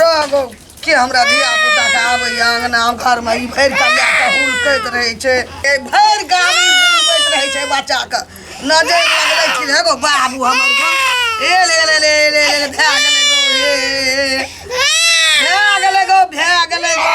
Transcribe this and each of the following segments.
रह गो के हमरा धिया पुता के आबैया अंगना घर में ई भरि के लए के हुलकैत रहै छै ए भरि गाम ई हुलकैत रहै छै बच्चा के नजर लगले कि हे गो बाबू हमर गो ए ले ले ले ले ले ले, भए गेलै गो ए, ए, ए। भए गेलै गो भए गेलै गो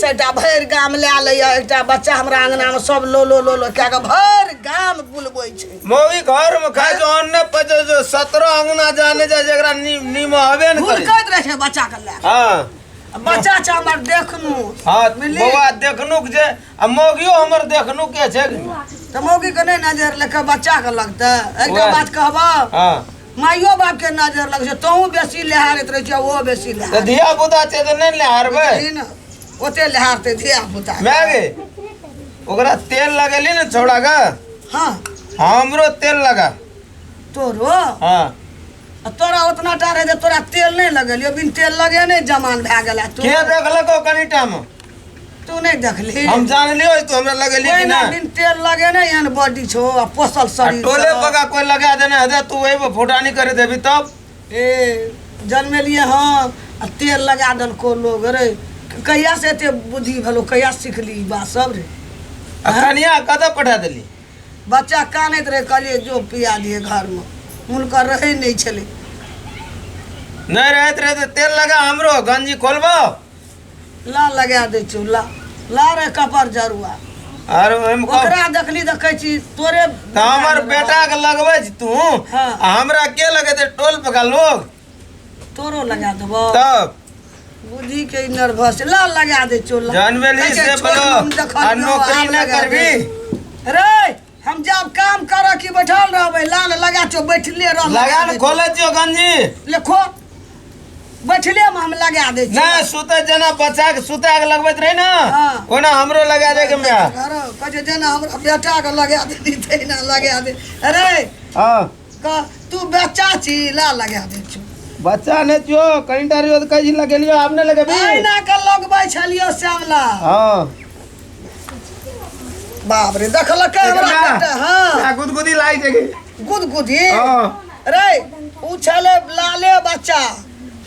सेटा भरि गाम लए लैया एकटा बच्चा हमरा अंगना में सब लो लो लो लो कए के भरि गाम बुलबै छै मौगी घर में खाइ छै अन्ने पचे छै सत्रह अंगना जाने जाइ छै एकरा नी- नीमो हबे ने करै छै। भुलकैत रहै छै बच्चा के लए हँ बच्चा छै हमर देखनु हँ मिली। बौआ देखनुक जे आ मौगियो हमर देखनुक के छै तऽ मौगी के नहि नजर लेके बच्चा के लगतै एकटा उएह। बात कहबह हँ माइयो बाप के नजर लग छै तहूँ बेसी लहारैत रहै छै ओहो बेसी तऽ लहार धिया पुता छै तऽ नहि ने हारबै ओते लहारतै धिया पुता माय गे ओकरा तेल लगेली ने छौड़ा के हाँ हमरो तेल लगा तोरो हाँ आ तोरा उतना टा रहै जे तोरा तेल नहि लगेलियो बिन तेल लगे नहि जमान भए गेला के देखलको कनिटा मे तू नहीं देखली हम जानले होई तो हमरा लगेली कोई कि ना ना दिन तेल लगे ना यान बॉडी छो आ पोसल आ शरीर टोले छो। पका कोई लगा देना है तू वही पर फोटा नहीं करे देबी तब ए जन्मे लिए हाँ आ तेल लगा दल को लोग रे कहिया से एते बुद्धि भलो कहिया सीखली ई बात सब रे आ हाँ? कनिया कतऽ पठा देली बच्चा कानैत रहे कहलिए जो पिया दिए घर में हुनकर रहे नहीं छले नहीं रहत रहे तो तेल लगा हमरो गंजी खोलबो ला लगा दै छियौ ला ला रे कपर जरुआ अरे ओहिमे कह- ओकरा देखली देखै छी तोरे तऽ हमर बेटा के लगबै छी तू हाँ। आ हमरा के लगेते टोल पे का लोग तोरो लगा देबो तब बुद्धि के नर्वस ला लगा दै छियौ ला जानबे नहीं कहै छै, से छोड़, बोलो हम देखलियौ, आ नौकरी आब ना लगा करबी दे। रे हम जाब काम करऽ कि बैठल रहबै लान लगा चो बैठले रह लगा ने खोले दियो गंजी लेखो बैठले में हम लगा दै छी नहीं सुते जना बच्चा के सुते के लगबैत रही ना हाँ। ओना हमरो लगा दे के मैं कहै छै जेना हमरा बेटाके लगा दे तेना लगा दे अरे हां क- तू बच्चा छी ला लगा दै छौ बच्चा नहि छियो कनिटा रहियो तऽ कहि लगेलियो आब नहि लगेबी अहिना के लगबै छलियो श्यामला हँ बाप रे देखलकै हमरा एकरा- कनिटा, हाँ आ, गुदगुदी लागि जेगी गुदगुदी हँ रे उ छले लाले बच्चा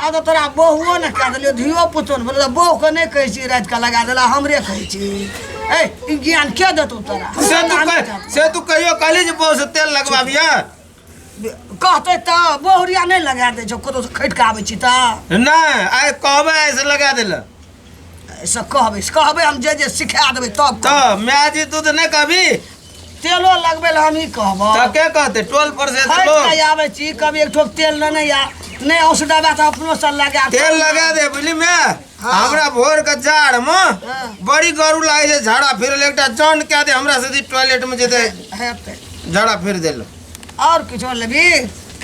आब तऽ तोरा बहुओ ने कए देलियौ धियो पुतो ने बोलल बहुके नहि कहै छी राति कऽ लगा देला हमरे कहै छी ए ई ज्ञान के देतौ तोरा से तू कह- से तू कहियो कहली जे बहु से तेल लगबाबिया कहतै तऽ बहुरिया नहि लगा दै छौ कतौ खटि कऽ आबै छी तऽ नहि आइ कहबै आइ से लगा देला से कहबै से कहबै हम जे जे सिखा देबै तब कहबै। तऽ माय जी तू तऽ नहि कहबी तेलो लगबै लए हम ई कहबो तऽ के कहते टोल पर से खर्च लोग कऽ आबै छी कभी एक ठोप तेल लेने या नहि औस दबा तऽ अपनो सँ लगा तेल लगा दे बुझली मे हमरा भोर के जाड़ मे हाँ। बड़ी गरू लागे छै झाड़ा फिरल एकटा जन कए दे हमरा से टॉयलेट में जेते हेतै झाड़ा फिर देल और किछो लेबी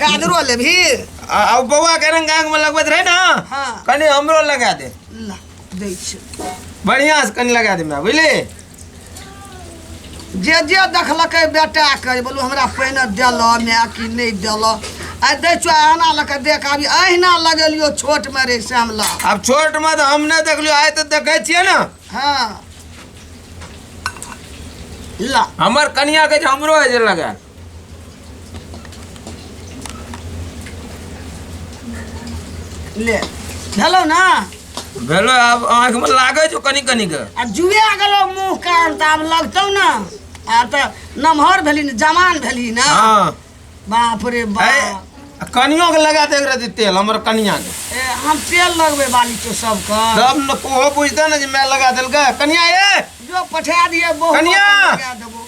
कादरो लेबी आ आ बौआ के रंग गांग में लगबैत रहे ना हाँ। कनी हमरो लगा दे ला दै छै बढ़िया से कनी लगा दे हमरा बुझली जे जे देखलकै बेटा के बोलू हमरा पहिने देल माय कि नहि देल आइ दै छौ अहिना लऽ कऽ देख आबी अहिना लगेलियो छोट मे रे श्यामला अब छोट में तो हम नहीं देखलियो आए तो देखे छिए ना हँ ला हमर कनिया के जे हमरो है जे लगा ले भेलौ ना भेलो आब आँख में लागे छो कनी कनी के आ जुए गेलौ मुँह कान तऽ आब लगतौ ना आब तऽ नमहर भेली ने जवान भेली ना हाँ बाप रे बाप ए, कनियो के लगा दे एकरा दी तेल हमर कनिया के ए, हम तेल लगबे वाली तो सबके तब न कोहो बुझते न जे मैं लगा देलकै कनिया ए जो पठा दिए बहुत कनिया! लगा देबो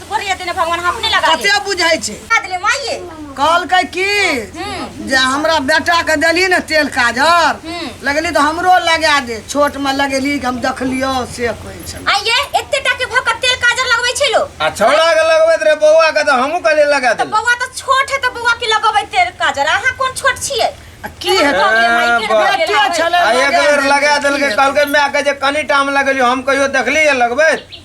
बोलिए देने भगवान हम अपने लगा कते बुझै छै ले माइए कहलकै की हम्म। जे हमरा बेटा के देली ने तेल काजर हम्म। लगली तो हमरो लगा दे छोट में लगेली हम देखलियो से कहै छै आइए एते टा के भक तेल काजर लगबै छै लो आ छोड़ा के लगबैत रहे बौआ के तो हमहू कहले लगा दे बौआ तो छोट है तो बौआ के लगबै तेल काजर अहाँ कोन छोट छियै की है लगा देलकै कहलकै माय के जे कनी टाइम लगेलियो हम कहियो देखली लगबैत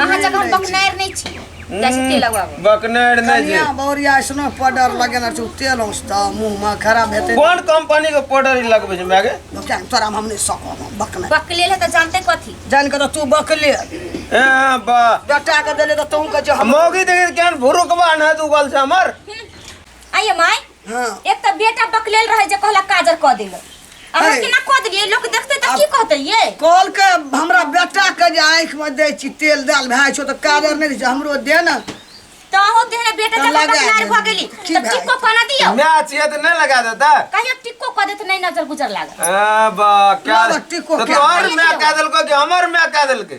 अहाँ जखन बकनारि नहि छी जाइ छी तेल लगबाबऽ बकनर नहि कनिया छै बौरिया ऐसनो पाउडर लगेने छै तेल औसता मुंह में खराब हेतै कोन कंपनी के पाउडर ई लगबै छै मागे क्या तोरा हम नहि सकब हम बकना बकले ले तऽ जानते कथी जान के तू बकले ए बा बेटा के देले तऽ तू के जे हम मौगी देखे केहन भुरुकबा न दुगल छै हमर आइए माय हाँ एक तो बेटा बकलेल रहे जे कहला काजर कह दिल आ हम है। केना कह दिलिए लोग देखते त की कहते ये कॉल के हमरा बेटा के जे आँख में दे छी तेल दाल भाई छो तो काजर नहीं दे छी, हमरो दे ना तो हो देहरा बेटा तो जब लगा बकलार देली। भ गेली की त भाई? टिको कना दियो मैच ये तो नहीं लगा देता कहियो टिको कह देत नहीं नजर गुजर लागल आ, बा क्या ना, बा, टिको तो क्या? तोहर मैं कह दिल को कि हमर मैं कह दिल के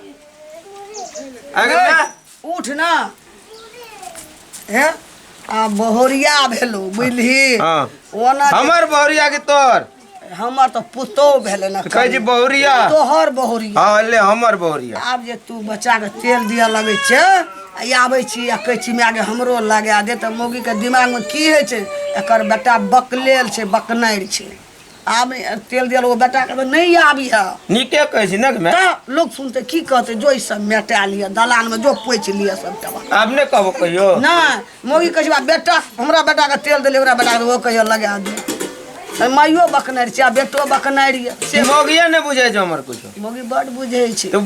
अगर ए, ना उठ ना हे आ बहुरिया भेलो बुझली हाँ। ओना जे- हमर बहुरिया के तोर हमर तो पुतो भेले ना कहै छी बहुरिया तोहर बहुरिया हाँ ले हमर बहुरिया आब जे तू बच्चा के तेल दिया लगे छे आ ई आबै छी आ कहै छी माय गे हमरो लगा दे तऽ मौगी के दिमाग में की होइ छै एकर बेटा बकलेल छै बकनारि छै आब तेल दिया लोग बेटा के नहीं आबी है नीके कहे छी ने मैं तो लोग सुनते की कहते जो ई सब मेटा लिया दलान में जो पोछ लिया सब तबा आब ने कहबो कहियो ना मोगी कहे बा बेटा हमरा बेटा के तेल देले हमरा बेटा के वो कहियो लगा दे अरे माइयो बकनारी छै आ बेटो बकनारी है। से मोगिया ने बुझे छै हमर कुछ मोगी बड़ बुझे छै तो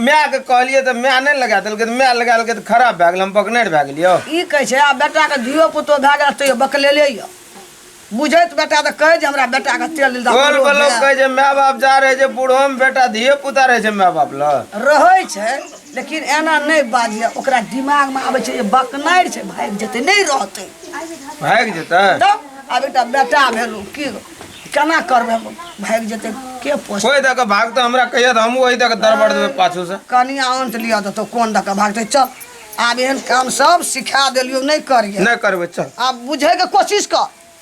मैं के कहलिए तो मैं नहीं लगा देलके तो मैं लगा देलके तो खराब भए गेल हम बकनेर भए गेलियो ई कहे छै आ बेटा के धियो पुतो भए गेल तैयो बकलेले यऽ बुझैत बेटा तऽ कहै जे हमरा बेटाके तेल दिल गोल बलो कहै जे माय बाप जा रहै छै बूढ़ोमे बेटा धिये पुता रहै छै माय बाप लऽ रहै छै लेकिन एना नहि बाजिए ओकरा दिमागमे आबै छै जे बकनारि छै भागि जेतै नहि रहतै भागि जेतै तब आब एकटा बेटा भेलहुँ की केना करबै भागि जेतै के पोस कोइ दऽ कऽ भागतौ हमरा कहिया तऽ हमहूँ ओहि दऽ कऽ दरबड़ देबै पाछू से कनिया अंत लिअ देतौ कोन दऽ कऽ भागतै चल आब एहन काम सब सिखा देलियौ नहि करिए नहि करबै चल आब बुझैके कोशिश कर